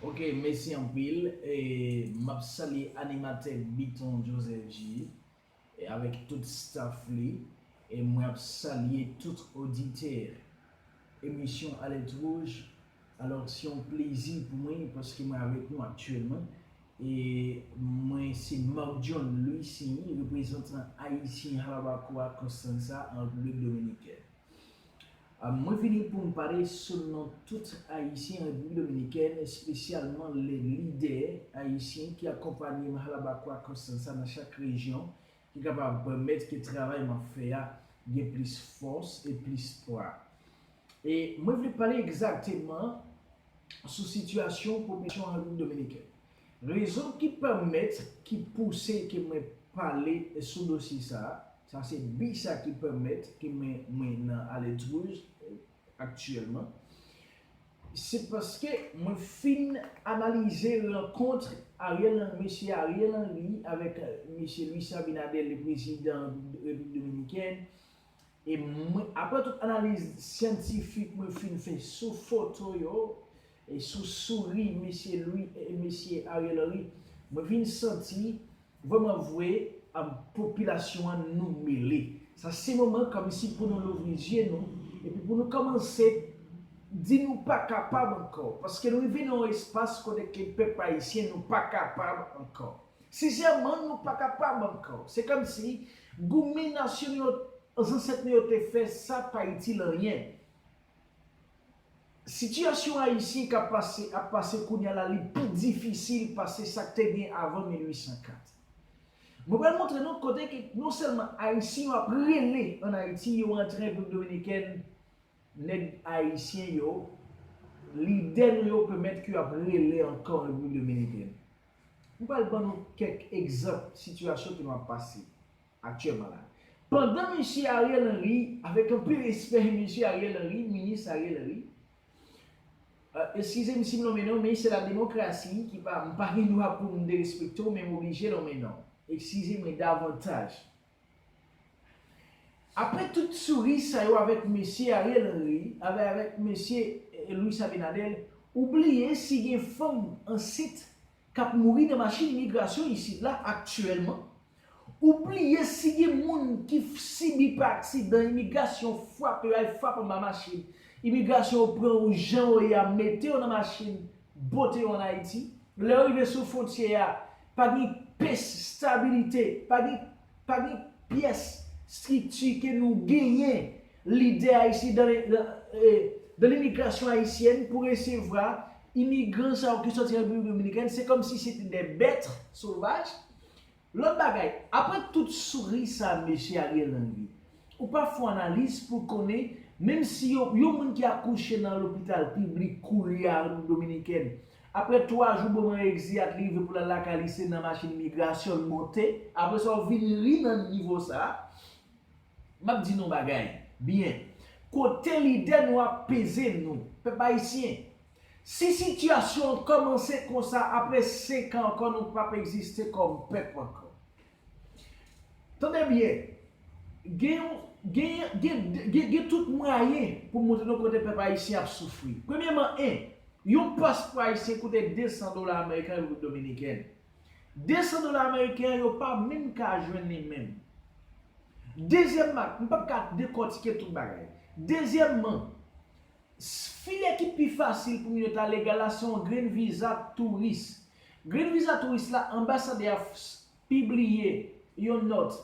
Ok mesi anpil map salye animatè biton Joseph J avèk tout staff li e mwen ap salye tout oditè emisyon alèt wouj alò se yon plezi pou mwen paske mwen avèk nou aktyèlman e mwen se Marc John Louissigny reprezantan ayisyen Jalabacoa Constanza an repiblik dominikèn. Mwen vini pou m pale sou non tout Ayisyen Repiblik Dominikèn, espesyalman le lidè Ayisyen ki akonpanye m halabakwa Constanza nan chak rejyon ki kapab pèmèt ke travay m ap fè a gen plis fòs e plis pwa. E mwen vle pale egzakteman sou sitiyasyon popilasyon an Repiblik Dominikèn. Rezon ki pèmèt, ki pouse ke mwen pale sou dosye sa a, Sa se bi sa ki pèmèt ke mwen mwen nan Aledwouj aktyèlman. Se paske mwen fin analize rankontre Ariel Henry, Mesye Ariel Henry avèk Mesye Luis Abinader le prezidan Repiblik Dominikèn. E mwen, aprè tout analiz syantifik mwen fin fè sou foto yo, E sou souri Mesye Louis e Mesye Ariel Henry mwen vin santi vrèman vwe popilasyon an nou mele. Sa se moman kòmsi pou nou louvri zye nou epi pou nou kòmanse di nou pa kapab ankò. Paske nou rive nan yon espas kote ke pèp ayisyen nou pa kapab ankò. Sensèman nou pa kapab ankò. Se kòmsi goumen nasyon nou yo, zansèt nou yo te fè sa pa itil anyen. Sitiyasyon Ayisyen ka pase ap pase kounya la li pi difisil pase sa k te gen avan 1804. Mwen pral montre nou kote ke non sèlman Ayisyen yo ap rele ann Ayiti yo antre Repiblik Dominikèn, nèg Ayisyen yo, lidè nou yo pèmèt ke yo ap rele ankò ann Repiblik Dominikèn. Mwen pral ban nou kèk egzanp sitiyasyon ke nou ap pase. aktyèlman la. Pandan Mesye Ariel Henry, avèk anpil respè Mesye Ariel Henry, Minis Ariel Henry, eskize m si m lonmen non, men se la demokrasi ki pa, m pa gen dwa pou m derespekte w men m oblije lonmen non. Eskize mwen davantaj. Aprè tout souri sa yo avèk Mesye Ariel Henry, avè avèk Mesye Luis Abinader, ou bliye si gen fanm ansent k ap mouri nan machin migrasyon isit la aktyèlman, Ou bliye si gen moun ki sibi pa aksidan imigrasyon frape yo ay frap anba machin imigrasyon yo pran ou jan ou ye a mete yo nan machin bote yo an Ayiti lè yo rive sou fontyè a pa gen pes stabilite pa gen pa gen pyès strikti ke nou genyen lidè ayisyen dan le dan limigrasyon ayisyèn pou resevra imigran sa yo ki sòti an Repiblik Dominikèn se kòm si se te dè bèt sovaj Lòt bagay, aprè tout souri sa mesye Ariel Henry, ou pa fon analiz pou l konnen menm si yo yon moun ki akouche nan lopital piblik koulye a Repiblik Dominikèn, aprè 3 jou bon man egziyat li rive pou l al lakay li se nan machin imigrasyon l monte. Aprè sa ou vin ri nan nivo sa. M ap di nou yon bagay byen, kote lide nou ap peze nou, pèp ayisyen, Si sitiyasyon an kòmanse konsa apre 5 an ankò nou pap egziste kòm pèp ankò. Tande byen, gen yon, gen, gen, gen tout mwayen pou montre nou kote pèp ayisyen ap soufri. Premyeman 1. Yon paspò ayisyen koute 200 dola ameriken an Repiblik Dominikèn. 200 dola ameriken an yo pa menm ka jwenn li menm. Dezyèmman, m pap ka dekòtike tout bagay. Dezyèmman, File ki pi fasil pou moun yo ta legal la se yon green visa touris. Green visa touris la anbasadè a pibliye yon nòt.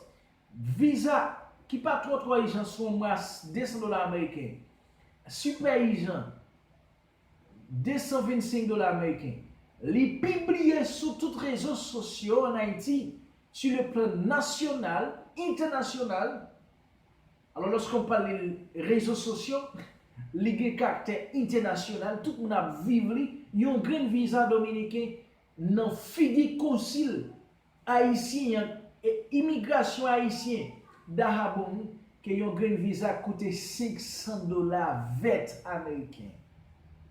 Visa ki pa twò twò ijan se yon mwa 200 dola ameriken. Sipè ijan 225 dola ameriken. Li pibliye sou tout rezo sosyo an Ayiti, su le plan nasyonal, entènasyonal. Alò lòske w pale rezo sosyo, li gen kaktè entènasyonal, tout moun ap viv li, yon grenn viza dominiken nan figi konsil ayisyen an, e imigrasyon ayisyen dahabonn ke yon grenn viza koute 500 dola vèt ameriken.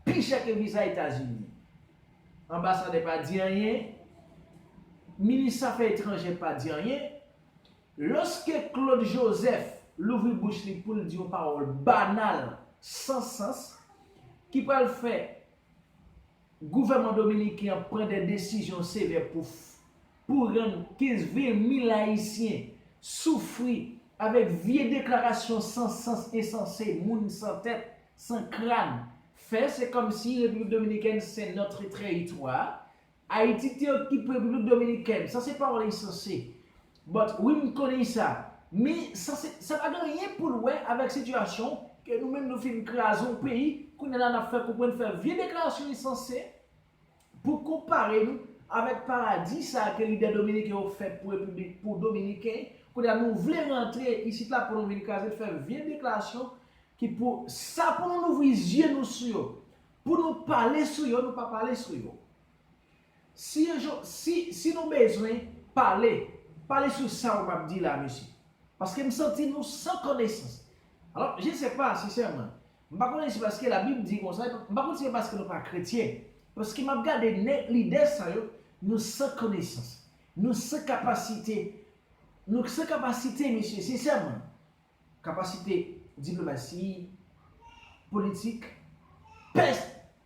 Pi chè ke viza Etazini. Anbasadè pa di anyen, minis afè etranjè pa di anyen. Loske Claude Joseph louvri bouch li pou l di yon pawòl banal, san sans, ki pral fè gouvèman dominiken an pran de desizyon sevè pou pou rann 15 vil mil ayisyen soufri avèk vye deklarasyon san sans ensanse moun san tèt, san kràn fè, se kòmsi Repiblik Dominikèn se notre trèritwa. Ayiti te okipe Repiblik Dominikèn, sa se pawòl ensanse. But wi m konnen sa. Men sa se, sa pa gen anyen pou l wè avèk sitiyasyon ke nou menm nou fin kraze yon peyi, kounye la n ap fè konprann fè vye deklarasyon ensanse pou konpare nou avèk paradi sa ke lidè dominiken yo fè pou Repiblik, pou Dominiken, kounye a nou vle rantre isit la pou nou vin kraze l fè vye deklarasyon ki pou sa pou nou louvri zye nou sou yo. Pou nou pale sou yo, nou pa pale sou yo. Si yon jou, si, si nou bezwen pale, pale sou sa ou map di la mesye. Paske m santi nou san konesans. Alò, je se pa, sensèman, m pa konnen se paske la Bib di konsa, epi m pa konn si se paske nou pa kretyen. Paske map gade nè, lidè sa yo, nou san konesans. Nou san kapasite, nou san kapasite mesye, sensèman. Kapasite diplomasi, politik, pès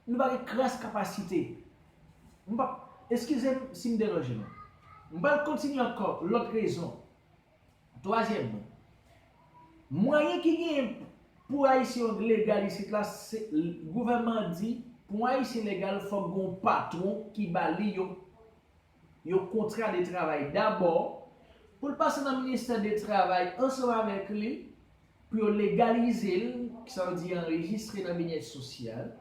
nou pa gen kras kapasite. M pap, eskize m si m deranje nou. M pral kontinye ankò lòt rezon. Twazyèmman, mwayen ki genyen pou Ayisyen yo legal isit la se gouvènman an di pou yon Ayisyen legal fòk gen yon patwon ki ba li yon yon kontra de travay dabò, pou l pase nan ministè de travay ansanm avèk li, pou yo legalize l, ki sa vle di anrejistre nan byenèt sosyal.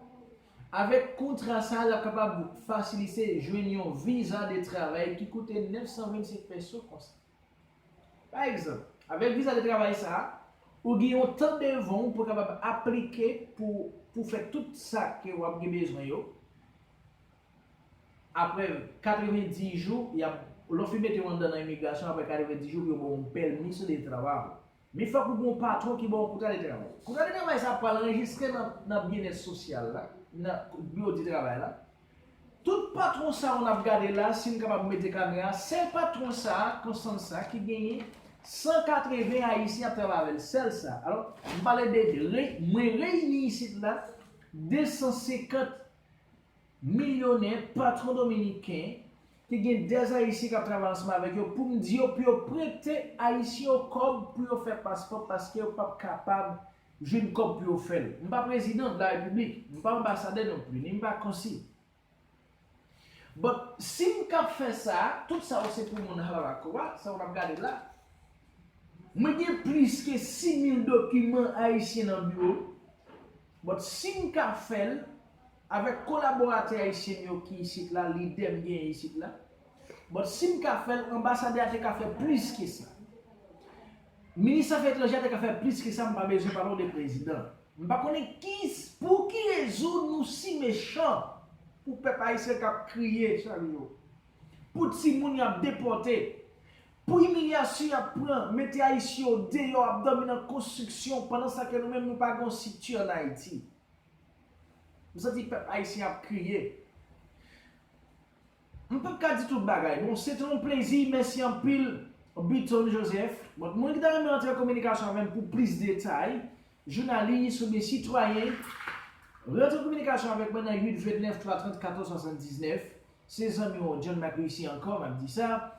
Avèk kontra sa a, l ap kapab fasilite jwenn yon viza de travay ki koute 925 pèso konsa. Pa egzanp, avèk viza de travay sa a, ou gen yon tan devan w pou w kapab aplike pou pou fè tout sa ke w ap gen bezwen yo, Aprè 90 jou, y ap, lè w fin mete yo anndan nan imigrasyon, aprè 90 jou pou yo ba w yon pèmis de trabajo. Men fòk ou gen yon patwon ki ba w yon kontra de travay. Kontra de travay sa a pral anrejistre nan nan Byennèt Sosyal la, nan Biwo di Travay la. Tout patwon sa yo n ap gade la a, si n kapab mete kamera a, sèl patwon sa a, Constance sa a, ki genyen 180 Ayisyen ap travay avè l, sèl sa a. Alò, m pale de, mwen reyini isit la 250. Milyonè, patwon dominiken, ki gen dè ayisyen kap travay ansanm avèk yo poum di yo pou yo prete ayisyen yo kòb pou yo fè paspò paske yo pap kapab jwenn kòb pou yo fèl. M pa prezidan de la repiblik, m pa anbasadè non pli, ni m pa konsil. But sim kap fè sa, tout sa yo se pou moun Halalako a, sa yo nap gade la. Mwen gen plis ke 6000 dokiman ayisyen nan biwo m. But sim ka fèl avèk kolaboratè ayisyen m yo ki isit la lide m genyen isit la but sim ka fèl anbasadè a te ka fè plis ke sa minis afè etranjè a te ka fè plis ke sa m pa bezwen pale w de prezidan. M pa konnen ki pou ki rezon nou si mechan pou pèp ayisyen kap kriye chak jou pou timoun yap depòte Pou imilyasyon yap pran, mete ayisyen yo deyò ap dòmi nan konstriksyon pandan sa ke nou menm nou pa gen yon sikti an ayiti. M santi pèp ayisyen ap kriye. M pap ka di tout bagay. Bon se te yon plezi mèsi anpil Button Joseph. Bon moun ki ta renmen antre an kominikasyon avèm pou plis detay Jounalis oubyen sitwayen, rantre kominikasyon avèk mwen nan 8 29 3 30 14 79, se zanmiw John Mac Réussi ankò map di sa,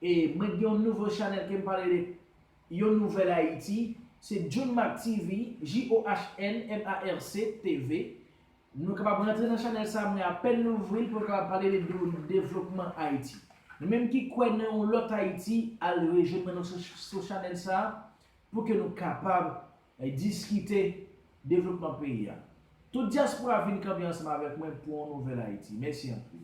e mwen gen yon nouvo chanèl kem pale de yon nouvèl Ayiti, se Johnmarc TV, JOHNMARC TV, nou kapab rantre nan chanèl sa mwen apèn louvri l pou nou kapab pale de devlopman Ayiti. Nou menm ki kwè nan yon lòt Ayiti al rejwenn mwen sou chanèl sa, pou ke nou kapab diskite devlopman peyi a. Tout dyaspora vin kanpe ansanm avèk mwen pou yon nouvèl Ayiti. Mèsi anpil.